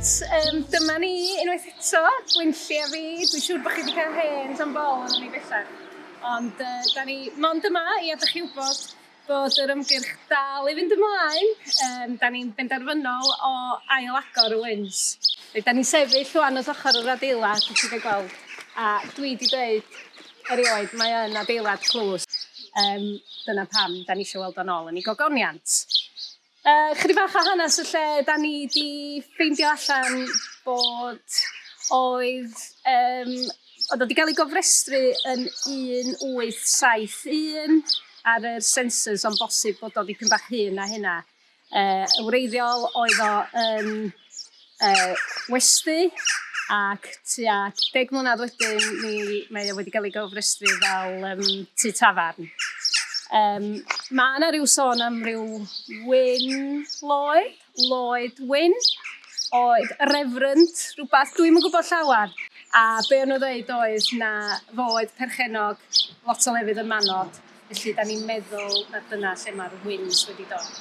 um, dyma ni unwaith eto, Gwynlli a fi. Dwi'n siŵr bod chi wedi cael hen tan bol o'n ni bellach. Ond uh, da ni mond yma i adael chi wybod Bod yr ymgyrch dal i fynd ymlaen, yym, da ni'n benderfynol o ail-agor y Wynns. Reit, da ni'n sefyll rwan wrth ochr yr adeilad, dych chi'n gweld, a dwi wedi dweud erioed, mae yn adeilad tlws. Um, dyna pam da ni eisiau weld o'n ôl yn ei gogoniant. Uh, chydig bach o hanes y lle, da ni di ffeindio allan bod oedd, um, oedd wedi cael ei gofrestru yn 1871 ar yr census ond bosib bod o dipyn bach hyn a hynna. Uh, wreiddiol oedd o yn Yy, westy, ac tua deg mlynedd wedyn mi mae o wedi cael ei gofrestru fel yym tŷ tafarn. Yym, ma' 'na ryw sôn am ryw Wyn Lloyd, Lloyd Wyn, oedd refrynt rhywbeth, dwi'm yn gwybod llawer, a be' o'n nhw'n ddeud oedd na fo oedd perchennog lot o lefydd yn Manor. Felly, da ni'n meddwl na dyna lle mae'r wins wedi dod.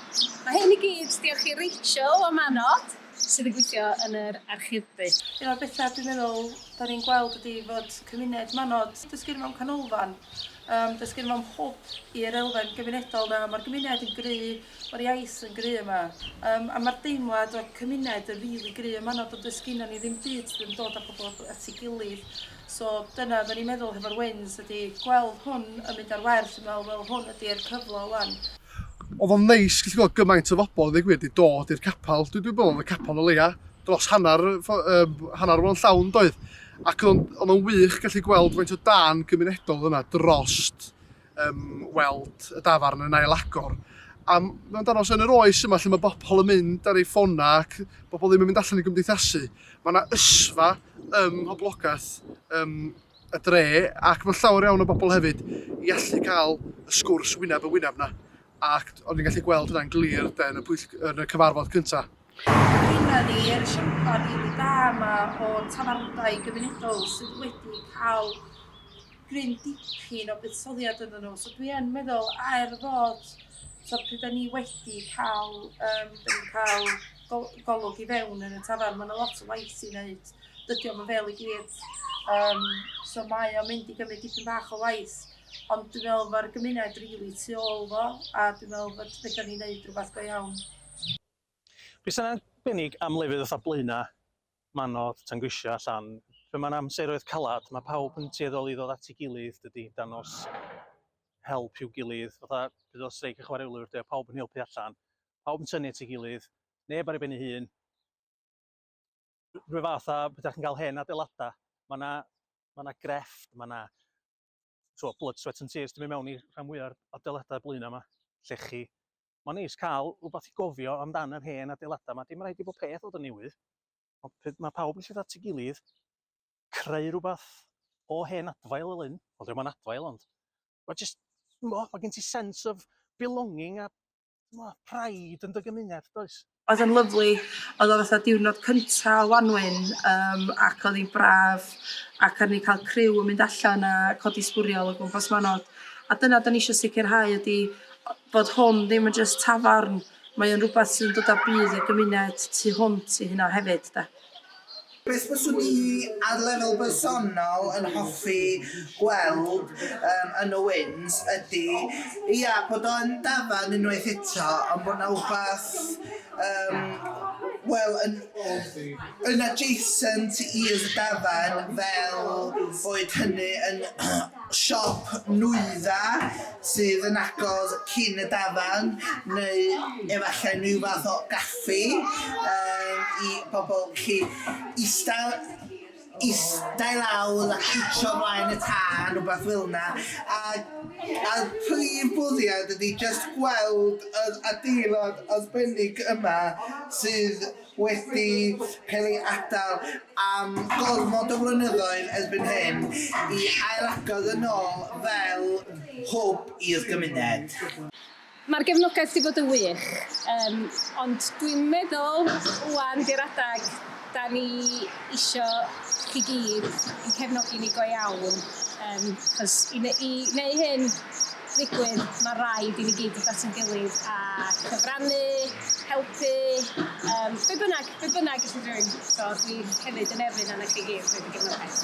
Mae hyn i gyd, diolch i Rachel o Manod, sydd yn gweithio yn yr archebu. Un o'r bethau dwi'n meddwl da ni'n gweld ydy fod cymuned Manod, dysgu mewn canolfan, um, dysgu mewn hwb i'r elfen gymunedol yna. Mae'r gymuned yn gry, mae'r iaith yn gry yma. Um, a mae'r deimlad o cymuned yn rili really gry ym Manod, ond dysgu ni ddim byd, ddim dod â pobl at ei gilydd. So dyna oedden ni'n meddwl hefo'r wins ydi gweld hwn yn mynd ar werth, dwi'n meddwl wel hwn ydi'r cyfle ŵan. Oedd o'n neis gallu gweld gymaint o bobl yn ddweud gwir wedi dod i'r capel, dwi dwi'n meddwl oedd y capel o leia dros hanner yym hanner o'n llawn doedd? Ac oedd o'n oedd o'n wych gallu gweld faint o dân gymunedol oedd yna drost um, weld y dafarn yn ailagor. A mae'n danos yn yr oes yma lle mae bobl yn mynd ar ei ffonau ac bobl ddim yn mynd allan i gymdeithasu. Mae yna ysfa ym mhoblogaeth um, y dre ac mae llawer iawn o bobl hefyd i allu cael y sgwrs wyneb y wyneb yna. Ac o'n i'n gallu gweld hynna'n glir yn y, yn y cyfarfod cyntaf. Dyna ni, yr esiamplau rili da yma o tafarndai gymunedol sydd wedi cael gryn dipyn o buddsoddiad ynddyn nhw. So dwi yn meddwl, er fod, so pryd da ni wedi cael, um, da ni'n cael gol golwg i fewn yn y tafarn, mae yna lot o waith i wneud. Dydy o'm yn fel i gyd. Um, so mae o'n mynd i gymryd dipyn bach o waith. Ond dwi'n meddwl mae'r gymuned rili really tu ôl fo, a dwi'n meddwl bod fedrwn ni wneud rhywbeth go iawn. Be sy'n arbennig am lefydd fatha Blaena, Manodd, Tangrisiau, Llan, pan mae'n amseroedd calad, mae pawb yn tueddol i ddod at ei gilydd, dydy, dangos help i'w gilydd, fatha bydd o streic y chwaraewlwyr, de, pawb yn helpu allan, pawb yn tynnu at ei gilydd, neb ar ei ben ei hun, rhyw fath a bydda chi'n cael hen adeiladau, mae yna ma yna grefft, mae yna so, blood, sweat and tears, dwi'n mynd mewn i rhan fwyaf o'r adeiladau blaenau yma, llechi, Mae'n neis cael rhywbeth i gofio amdan yr hen adeiladau yma. Dim rhaid i bob peth fod yn newydd. Ond mae pawb yn llytho at ei gilydd, creu rhywbeth o hen adfail fel hyn. Wel, ddim ond adfail, ond... Mae just... Mae gen ti sense of belonging a... Mae pride yn dy gymuned, does? Oedd o'n lyfli. Oedd o fatha diwrnod cynta o Wanwyn yym ac oedd hi'n braf ac o'n ni'n cael criw yn mynd allan a codi sbwriel o gwmpas Manod a dyna dan ni eisiau sicrhau ydy o- bod hwn ddim yn jyst tafarn, mae o'n rhywbeth sy'n dod â budd i'r gymuned tu hwnt i hynna hefyd de. Beth fyswn i ar lefel bersonol yn hoffi gweld yym yn y Wynns ydi ia bod o yn dafarn unwaith eto ond bod 'na wbath yym wel yn yn adjacent i'r dafarn fel boed hynny yn siop nwyddau sydd yn agos cyn y dafarn neu efallai rhyw fath o gaffi yym i bobl gallu istaw ista i lawr a cwtshio mlaen y tân rwbath fel 'na a a prif bwriad ydi jyst gweld yr adeilad arbennig yma sydd wedi cael ei atal am gormod o flynyddoedd erbyn hyn, i ailagor yn ôl fel hwb i'r gymuned. Mae'r gefnogaeth 'di bod yn wych, yym, ond dwi'n meddwl ŵan 'di'r adeg 'dan ni isio chi gyd i'n cefnogi ni go iawn, yym, achos i ne- i neu' hyn, digwydd, mae rhaid i ni gyd dod at ein gilydd a cyfrannu, helpu, um, be bynnag, be bynnag ydych chi'n rhywun. So, dwi hefyd yn erfyn arna chi gyd wedi gefnogaeth.